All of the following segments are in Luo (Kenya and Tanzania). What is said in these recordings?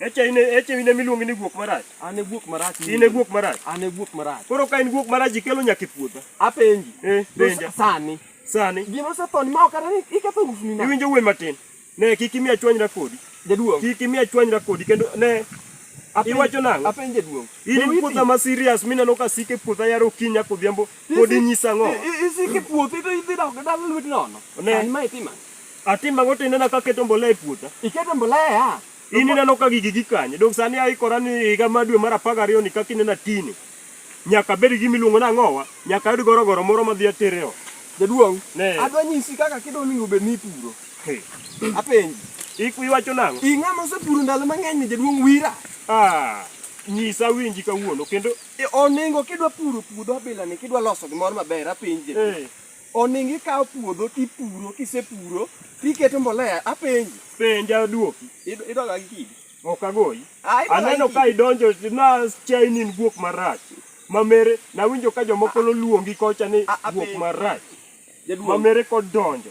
Echa in e- echa in ema iluongi ni guok marach. An e guok marach. In e guok marach. An e guok marach. Koro ka in guok marach ikelo nyaka e puodha. Apenji. Eh, penja. Sani. Sani. Gima osetho ni ma ok anani iketho usni na. Iwinjo wuoyi matin. Ne kik imiya chwanyra kodi. Jaduong'. Kik imiya chwanyra kodi kendo ne Apenje- iwacho nang'o? Apenje duong'. In Be in witi? puotha ma serious mineno ka sike puotha yaro okinyi nyaka odhiambo pod Isi- inyisa ang'o? i- i- Isike puothi to idhi dok dala lwet nono. Ne. Sani ma itima. Atimo ang'o to inena ka aketo mbolea e puotha? Iketo mbolea? In ineno ka gigi gikanye. Dong sani aikora ni higa ma dwe mar apar gariyo ni kaka inena tini. Nyaka abed gi gima iluongo ni ang'owa, nyaka ayud gorogoro moro madhi atere ot. Jaduong', Ne. adwa nyisi kaka kido onego obed ni ipuro. Hey. Apenji. Iku iwacho nang'o? I ng'ama osepuro ndalo mang'eny ni jaduong' wira. Ah, nyisa winji kawuono kendo E, Onego kidwa puro puodho abilani, kidwa loso gimoro maber, apenji. Eh. Oningo ikawo puodho tipuro, kisepuro tiketo mbolea. Apenji. Penja aduoki. Idoga gi kidi. Ok agoyi. Ah, Aneno ka idonjo na chainin guok marach. Mamere nawinjo ka jomoko luongi kocha ni ah, ah, guok marach. Mamere kod donjo.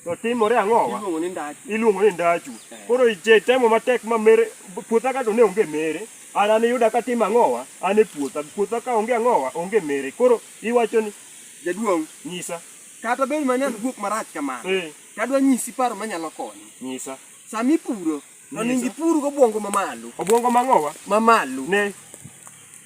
To timore ang'o wa? Iluongo ni ndachu. Iluongo ni ndachu. Eh. Koro ije temo matek mamere puotha ka to ne onge mere. An an yuda ka tim ang'owa, an e puotha. Puotha ka onge ang'owa, onge mere. Koro iwacho ni Jaduong'. Nyisa. Kata bed mana an guok marach kamano. Eh. Tadwa nyisi paro manyalo konyi. Nyisa. Sama ipuro, to onego ipur gobwongo mamalo. Obwongo mang'owa? Mamalo. Ne.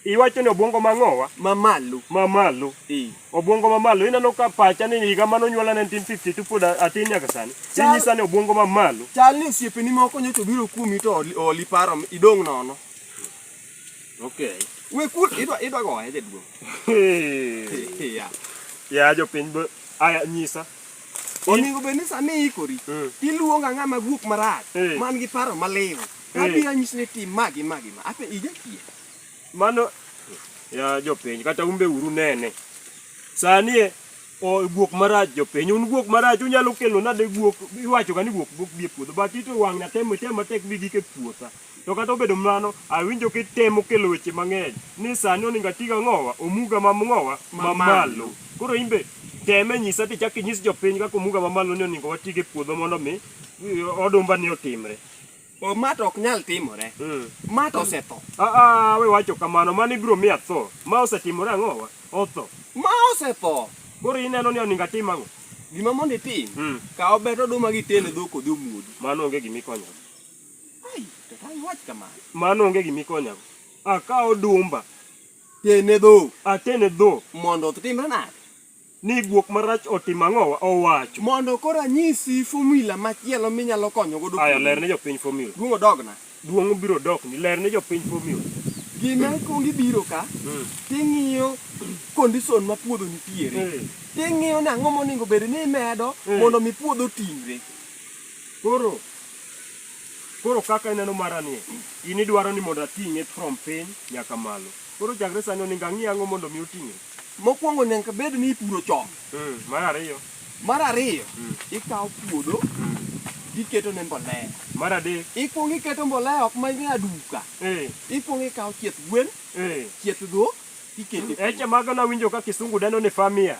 Iwacho ni obwongo mang'owa? Mamalo. Mamalo. Eh. Obwongo mamalo. Ineno ka pacha ni higa mane onyuola 1950 to pod atin nyaka sani. Inyisa ni obwongo mamalo. Chal ni osiepeni moko nyocha obiro kuomi to oli paro idong' nono. Okay. We kul idwa idwa goye jaduong. Yeah. Ya jopiny bo aya nyisa. Onego bed ni sani ikori. Mm. Iluongo ang'a ma guok marach Eh. man gi paro maliw. Eh. Abiro nyisi ni tim ma gi ma gi ma. Ape ija kiye. Mano ya jopiny kata umbe uru nene. Sani e o guok marach jopiny un guok marach unyalo kelo nade guok iwacho ga ni guok guok bi e puodho but ito wang' na temo temo tek bi gike puotha. To kata obedo mano, awinjo kitemo kelo weche mang'eny ni sani oninga tiga ng'owa, omuga ma ng'owa ma malo. Koro imbe teme nyisa ti chaki nyis jopiny kaka omuga ma malo ni oningo watige puodho mondo mi odumba ni otimre. O ma to ok nyal timore. Mm. Ma to osetho. Ah, ah, we wacho kamano, mano ibiro miya tho. Ma osetimore ang'owa, otho. Ma osetho. Koro ineno ni oninga tim ang'o? Gima mondo itim, mm. kawo bet oduma gi tene dhok odhi omwodi. Mano onge gima ikonyo. Mano onge gima ikonyago. Akawo dumba. Tene dho. Atene dho. Mondo otimre nade? Ni guok marach otim ang'owa owacho. Mondo koro anyisi fomula machielo minyalo konyo godo. Aya ler ne jopiny fomula. Duong' odogna. Duong' obiro dokni. Ler ne jopiny fomula. Gima ikuongo ibiro ka, hmm. ting'iyo kondison ma puodho nitiere. Hmm. Ting'iyo ni ang'o monego bed ni imedo hmm. mondo mi puodho ting're. Koro Koro kaka ineno mara nie, in idwaro ni mondo ating'e from piny nyaka malo. Koro chakre sani oningo ang'i ang'o mondo mi oting'e? Mokwongo nyaka bed ni ipuro chon. Mm, mar ariyo. Mar ariyo, mm. ikawo puodho mm. tiketo ne mbolea. Mar adek, ikwongo iketo mbolea ok ma ing'e aduka. Eh. Ikwongo ikawo chieth gwen, eh. chieth dhok, ikete. Eche mago nawinjo ka kisungu dendo ni farmyard.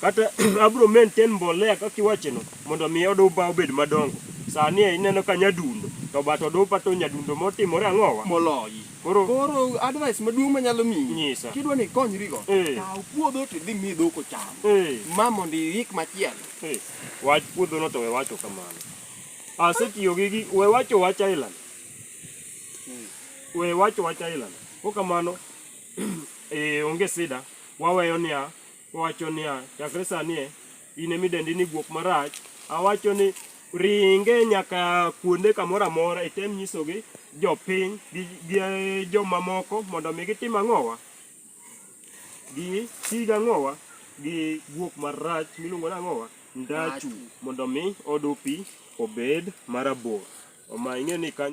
kata abro maintain mbolea kaka iwacheno mondo mi odupa obed madongo sani e ineno ka nyadundo to but odupa to nyadundo motimore ang'owa moloyi koro koro advice maduong' manyalo miyi Nyisa. kidwa ni ikonyrigo Eh. kaw puodho to idhi mi dhok ocham eh, ma mondo iik machielo eh, wach puodhono to we wacho kamano asetiyo gi gi we wacho wach island we wacho wach island ko kamano eh, onge sida waweyo niya Owacho niya, chakre sani e, in ema idendi ni guok marach. Awacho ni ringe nyaka kuonde kamoro amora item nyisogi jopiny gi, gi eh, jomamoko mondo mi gitim ang'owa gi tig ang'owa gi guok marach miluongo ni ang'owa ndachu mondo mi odupi obed marabor. Oma ing'e ni kanyo